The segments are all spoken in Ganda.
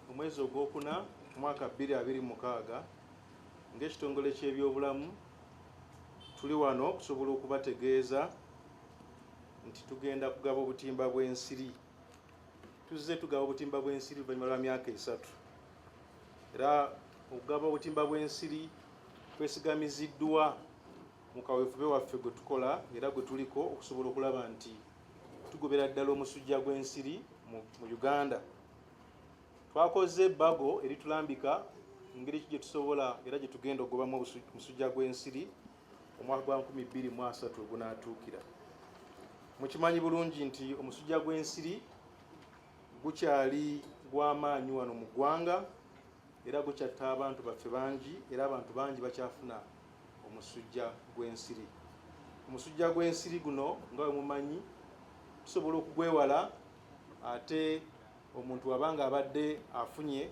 mu mwezi ogwokuna mwaka 2026 ng'ekitongole ky'ebyobulamu tuli wano okusobola okubategeeza nti tugenda kugaba obutimba bw'ensiri tuzze tugaba obutimba bw'ensiri oluvannyuma lwa myaka esatu era okugaba obutimba bw'ensiri kwesigamiziddwa mu kaweefube waffe gwe tukola era gwe tuliko okusobola okulaba nti tugobera ddala omusujja gw'ensiri mu uganda twakoze ebbago eritulambika engeri ki gye tusobola era gye tugenda okugobamu omusujja gw'ensiri omwaka gwa 2023 ogunaatuukira mukimanyi bulungi nti omusujja gw'ensiri gukyali gw'amaanyi wano mu ggwanga era gukyatta abantu baffe bangi era abantu bangi bakyafuna omusujja gw'ensiri omusujja gw'ensiri guno nga wemumanyi tusobola okugwewala Ate omuntu bw'aba ng'abadde afunye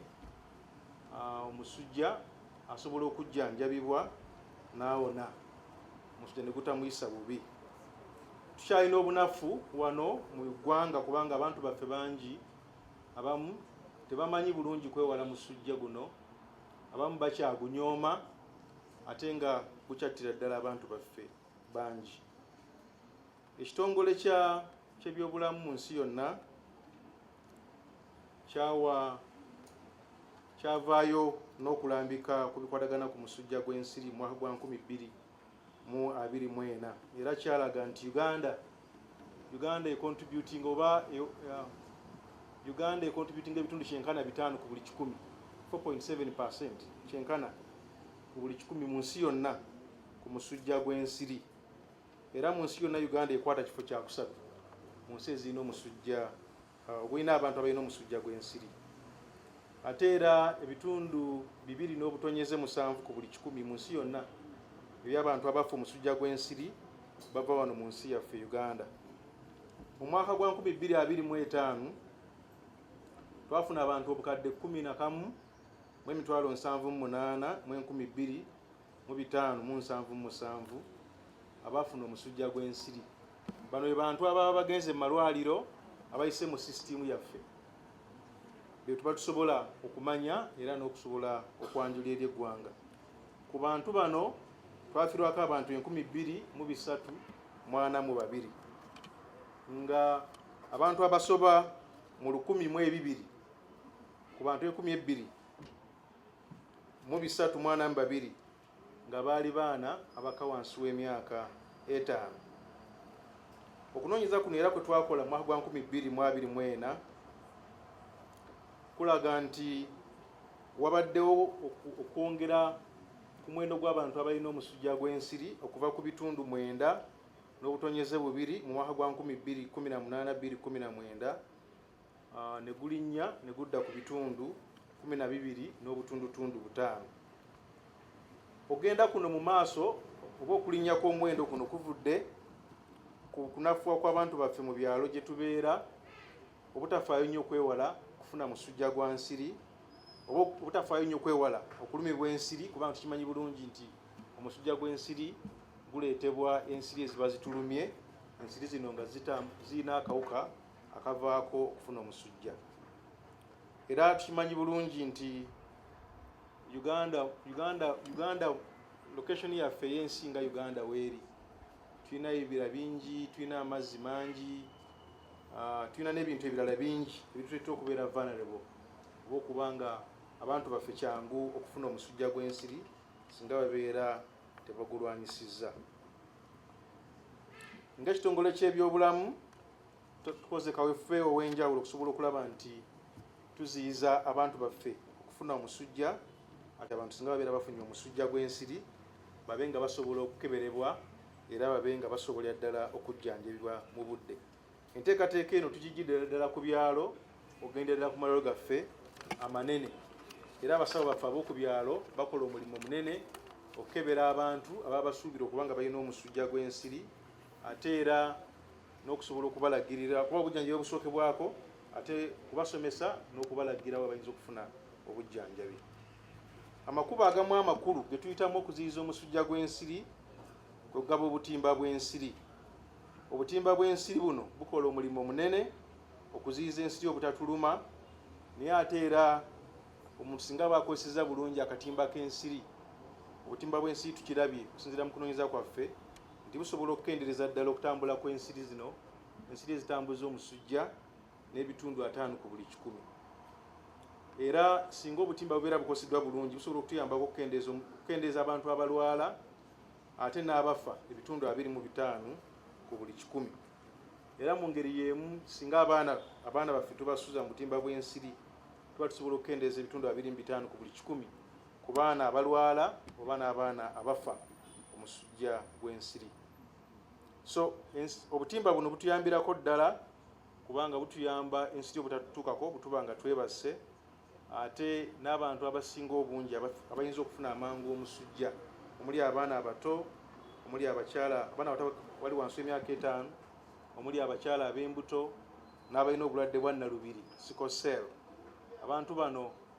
omusujja asobola okujjanjabibwa n'awona omusujja ne gutamuyisa bubi. Tukyalina obunafu wano mu ggwanga kubanga abantu baffe bangi abamu tebamanyi bulungi kwewala musujja guno, abamu bakyagunyooma ate nga gukyattira ddala abantu baffe bangi. Ekitongole kya ky'ebyobulamu mu nsi yonna kyawa kyavaayo n'okulambika ku bikwatagana ku musujja gw'ensiri mu mwaka gwa 2024 era kyalaga nti Uganda Uganda ekontributinga oba e, uh, Uganda ekontributinga ebitundu kyenkana bitaano ku buli kikumi 4.7 kyenkana ku buli kikumi mu nsi yonna ku musujja gw'ensiri. Era mu nsi yonna Uganda ekwata kifo kya kusatu mu nsi ezirina omusujja uh, ogulina abantu abalina omusujja gw'ensiri. Ate era ebitundu bibiri n'obutonyeze musanvu ku buli kikumi mu nsi yonna eby'abantu abafa omusujja gw'ensiri bava wano mu nsi yaffe Uganda. Mu mwaka gwa 2025 twafuna abantu obukadde 10 na kamu mu emitwalo 7 mu 8 mu 2000 mu bitaano mu nsanvu mu musanvu abaafuna omusujja gw'ensiri. Bano be bantu ababa bagenze mu malwaliro abayise mu sisitiimu yaffe be tuba tusobola okumanya era n'okusobola okwanjula eri eggwanga. Ku bantu bano twafirwako abantu enkumi bbiri mu bisatu mwana mu babiri nga abantu abasoba mu lukumi mu ebibiri ku bantu enkumi ebbiri mu bisatu mwana mu babiri nga baali baana abaka wansi w'emyaka etaano okunoonyeza kuno era kwe twakola mwaka gwa 2024 kulaga nti wabaddewo okwongera ku muwendo gw'abantu abalina omusujja gw'ensiri okuva ku bitundu mwenda n'obutonyeze bubiri mu mwaka gwa 2018 2019 ne gulinnya ne gudda ku bitundu kumi na bibiri n'obutundutundu butaano ogenda kuno mu maaso oba okulinnya kw'omuwendo kuno kuvudde ku kunafuwa kw'abantu baffe mu byalo gye tubeera obutafaayo nnyo okwewala kufuna musujja gwa nsiri oba obutafaayo nnyo okwewala okulumibwa ensiri kubanga tukimanyi bulungi nti omusujja gw'ensiri guleetebwa ensiri eziba zitulumye ensiri zino nga zirina akawuka akavaako okufuna omusujja era tukimanyi bulungi nti uganda uganda uganda location yaffe yensi nga uganda weeri tulina ebibira bingi tulina amazzi mangi ah, tulina n'ebintu ebirala bingi ebituleeta okubeera vulnerable oba okuba nga abantu baffe kyangu okufuna omusujja gw'ensiri singa babeera tebagulwanyisizza nga ekitongole ky'ebyobulamu tukoze kawefube ow'enjawulo okusobola okulaba nti tuziyiza abantu baffe okufuna omusujja ati abantu singa babeera bafunye omusujja gw'ensiri babe nga basobola okukeberebwa era babe nga basobolera ddala okujjanjabibwa mu budde enteekateeka eno tugijjidira ddala ku byalo okugenderera ku malalo gaffe amanene era abasawo baffe ab'oku byalo bakola omulimu munene okukebera abantu ababa basuubira okuba nga balina omusujja gw'ensiri ate era n'okusobola okubalagirira kuba obujjanjabi obusookebwako ate kubasomesa n'okubalagira we bayinza okufuna obujjanjabi amakubo agamu amakulu ge tuyitamu okuziyiza omusujja gw'ensiri kwe kugaba obutimba bw'ensiri obutimba bw'ensiri buno bukola omulimu omunene okuziyiza ensiri obutatuluma naye ate era omuntu singa aba akozeseza bulungi akatimba k'ensiri obutimba bw'ensiri tukirabye okusinzira mu kunoonyeza kwaffe nti busobola okukendereza ddala okutambula kw'ensiri zino ensiri ezitambuza omusujja n'ebitundu ataano ku buli kikumi era singa obutimba bubeera bukoseddwa bulungi busobola okutuyambako okukendeeza abantu abalwala ate n'abafa ebitundu abiri mu bitaano ku buli kikumi era mu ngeri y'emu singa abaana abaana baffe tubasuza mu butimba bw'ensiri tuba tusobola okukendeeza ebitundu abiri mu bitaano ku buli kikumi ku baana abalwala oba n'abaana abafa omusujja gw'ensiri so obutimba buno butuyambirako ddala kubanga butuyamba ensiri obutatutuukako butuba nga twebasse ate n'abantu abasinga obungi abayinza okufuna amangu omusujja omuli abaana abato omuli abakyala abaana abato wali wansi emyaka etaano omuli abakyala ab'embuto n'abalina obulwadde bwa nnalubiri sikosel abantu bano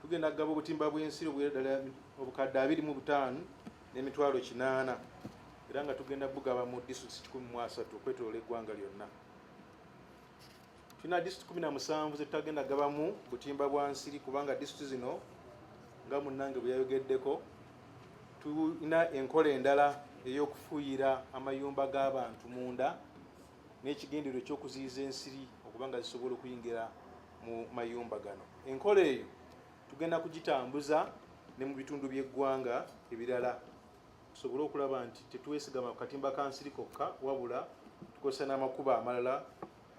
tugenda kugaba obutimba bw'ensiri obwera ddala obukadde abiri mu butaano n'emitwalo kinaana era nga tugenda bugaba mu disitulikiti kikumi mu asatu okwetolola eggwanga lyonna tulina disitulikiti kumi na musanvu zetutagenda gabamu butimba bwa nsiri kubanga disitulikiti zino nga munnange bwe yayogeddeko tulina enkola endala ey'okufuuyira amayumba g'abantu munda n'ekigendererwa eky'okuziyiza ensiri okuba nga zisobola okuyingira mu mayumba gano enkola eyo tugenda kugitambuza ne mu bitundu by'eggwanga ebirala tusobole okulaba nti tetwesigama ku katimba ka nsiri kokka wabula tukozesa n'amakubo amalala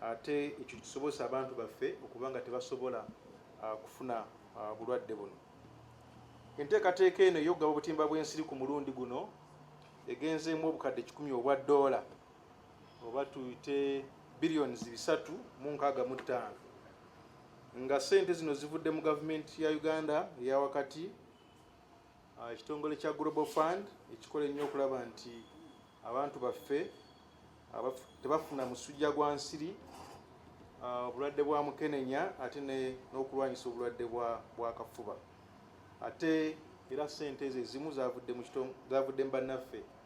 ate ekyo kisobozesa abantu baffe okuba nga tebasobola ah, kufuna ah, bulwadde buno enteekateeka eno ey'okugaba obutimba bw'ensiri ku mulundi guno egenzeemu obukadde kikumi obwa ddoola oba tuyite billions bisatu mu nkaaga mu ttaano nga sente zino zivudde mu gavumenti ya Uganda eya wakati ah, ekitongole kya Global Fund ekikola ennyo okulaba nti abantu baffe tebafuna musujja gwa nsiri ah, obulwadde bwa mukenenya ate n'okulwanyisa obulwadde bwa kafuba ate era sente ezo ezimu zavudde mu bannaffe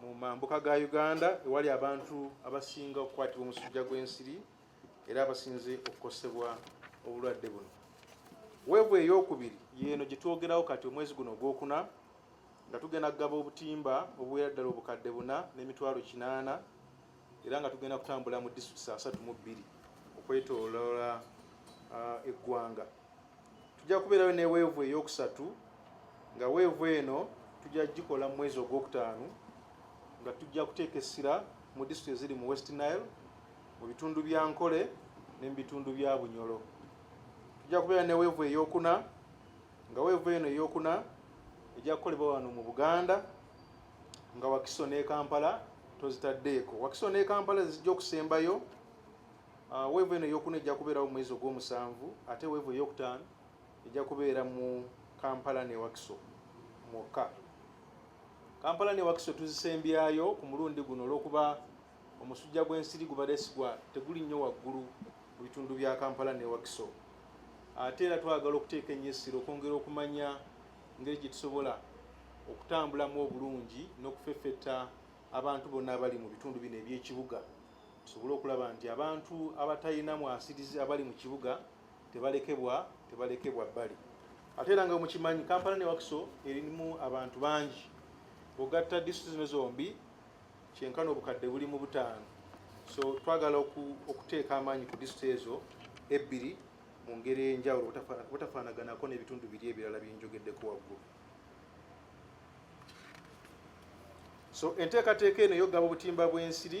mu mambuka ga Uganda ewali abantu abasinga okukwatibwa omusujja gw'ensiri era abasinze okukosebwa obulwadde buno. Weevu eyokubiri yeeno gye twogerawo kati omwezi guno ogwokuna nga tugenda kugaba obutimba obuwera ddala obukadde buna n'emitwalo kinaana era nga tugenda kutambula mu disitulikiti asatu mu bbiri okwetooloola uh, eggwanga. Tujja kubeerayo ne weevu ey'okusatu nga weevu eno tujja gikola mu mwezi ogwokutaano nga tujja kuteeka essira mu disitulikiti eziri mu West Nile mu bitundu bya Nkole ne mu bitundu bya Bunyolo. Tujja kubeera ne weevu ey'okuna nga weevu eno ey'okuna ejja kukolebwa wano mu Buganda nga Wakiso ne Kampala tozitaddeeko. Wakiso ne Kampala ze zijja okusembayo. Uh, weevu eno eyokuna ejja kubeerawo mu mwezi ogw'omusanvu ate weevu eyokutaano ejja kubeera mu kampala ne wakiso mwokka kampala ne wakiso tuzisembyayo ku mulundi guno olw'okuba omusujja gw'ensiri gubadde sigwa teguli nnyo waggulu mu bitundu bya kampala ne wakiso ate era twagala okuteeka ennyo essira okwongera okumanya ngeri gye tusobola okutambulamu obulungi n'okufeffetta abantu bonna abali mu bitundu bino eby'ekibuga tusobole okulaba nti abantu abatalina mwasirizi abali mu kibuga tebalekebwa tebalekebwa bbali ate era nga mukimanyi kampala ne wakiso erimu abantu bangi ogatta disitulikiti zino zombi kyenkana obukadde buli mu butaano so twagala okuteeka amaanyi ku disitulikiti ezo ebbiri mu ngeri ey'enjawulo butafaanaganako n'ebitundu biri ebirala byenjogeddeko waggulu so enteekateeka eno eyokugaba obutimba bw'ensiri